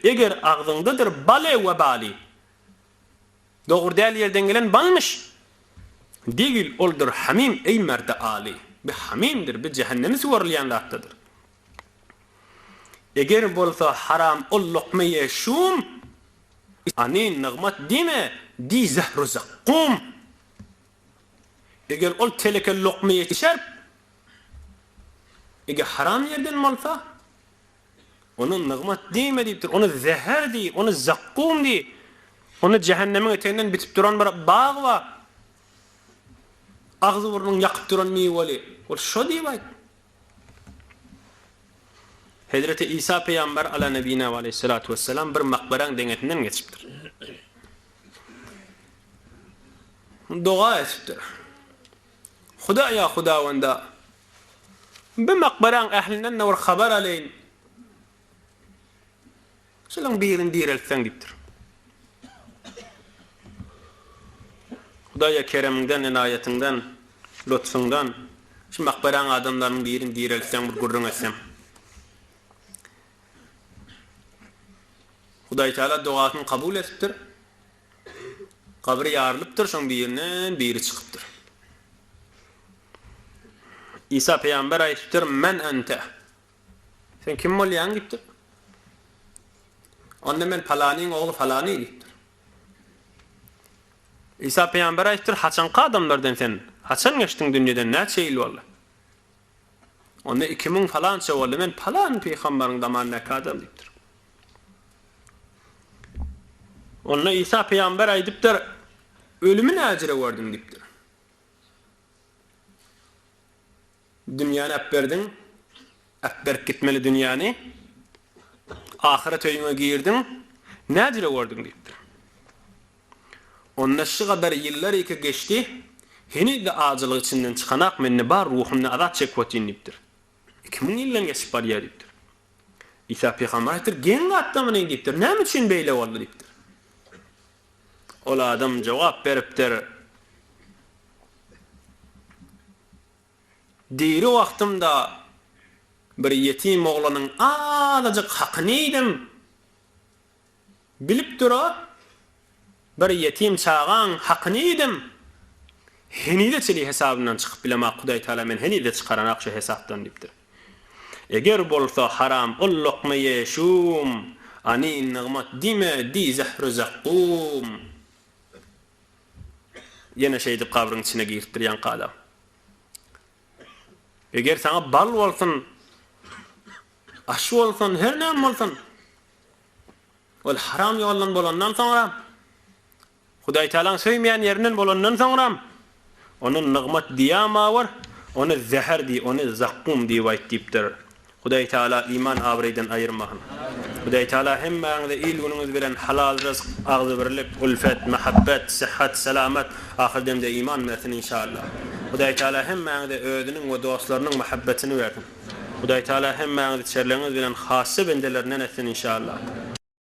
Eger agzyňdadyr bale we bali. Dogry däl ýerden gelen balmyş. Degil oldur hamim eý merdi aly. Bi hamimdir, bi jähennemi suwarylýan zatdadyr. Eger bolsa haram ol lokma ýe şum, Ani nygmat diýme, diý zähru zakkum. Eger ol teleke lokma ýe şerp, Eger haram ýerden bolsa, Ony nygmat diýme diýipdir, ony zäher diý, ony zakkum diý. Onda jähennemiň eteginden bitip duran bir bag bar. Agzy-burnuňy ýakyp duran miweli. Ol şo diýip aýt. Hezreti Isa pygamber ala nebine ve aleyhissalatu vesselam bir makberaň deňesinden geçipdir. Doga etipdir. Hudaýa Hudawanda Bu makbaraň ählinden-de bir habar alaýyn. Şularyň birini direltseň diýipdir. Hudaýa keremiňden, ynaýatyňdan, lutfuňdan şu makbaraň adamlarynyň birini direltseň, bir gürrüň etseň. Hudaýtagala dogasyny kabul edipdir. Gabyr ýarylypdyr, şoň birinden biri çykypdyr. Isa pygamber aýdypdyr, Men ente. Sen kim bolýaň diýipdir. Onda men palanyň ogly palany diýipdir. Isa pygamber aýdypdyr, Haçanky adamlardan sen? Haçan geçdiň dünýeden, näçe ýyl boldy? Onda iki müň palança boldy, men palan pygambaryň zamanyndaky adam diýipdir. Onda Isa pygamber aýdypdyr, Ölümi näjere gördüň diýipdir. Dünýäni äpberdiň, äpberip gitmeli dünýäni, Ahyret öýüňe girdiň, nädire gördüň? diýipdir. Onda şu gadar ýyllar ýeke geçdi, heniz-de ajylyk içinden çykanok, mende bar ruhumda azap çekip otyryn diýipdir. Iki müň ýyldan geçip barýar diýipdir. Isa pygamber aýtdypdyr, Geň gatlamyny diýipdir, näme üçin beýle boldy diýipdir. Ol adam jogap beripdir. Diri wagtymda bir ýetim oglanyň azajyk hakyny iýdim. Bilip dur-a, bir ýetim çagaň hakyny iýdim. Henize çenli hesabymdan çykyp bilemok, Hudaýtagala meni henize çykaranok şu hesapdan diýipdir. Eger bolsa haram ol lokma ýe şum, Ani nygmat diýme, diý zähru-zakkum. Ýene şeýdip gabryň içine giripdir ýaňkala. Eger saňa bal bolsun, aş bolsun, her näme bolsun, ol haram ýoldan bolandan soňra, Hudaýtagalaň söýmeýän ýerinden bolandan soňra, ony nygmat diýäma bir, ony zäher diý, ony zakkum diýip aýt diýipdir. Hudaý Taala iman abraýdan aýyrmasyn. Hudaý Taala hemmäňize il günüňiz bilen halal ryzk, agzybirlik, ulfet, mahabbet, syhat, salamat, ahyr demde iman bersin inşallah. Hudaý Taala hemmäňize özüniň we dostlarynyň mahabbetini bersin. Hudaý Taala hemmäňizi çerlegiňiz bilen hassa bendelerinden etsin inşallah.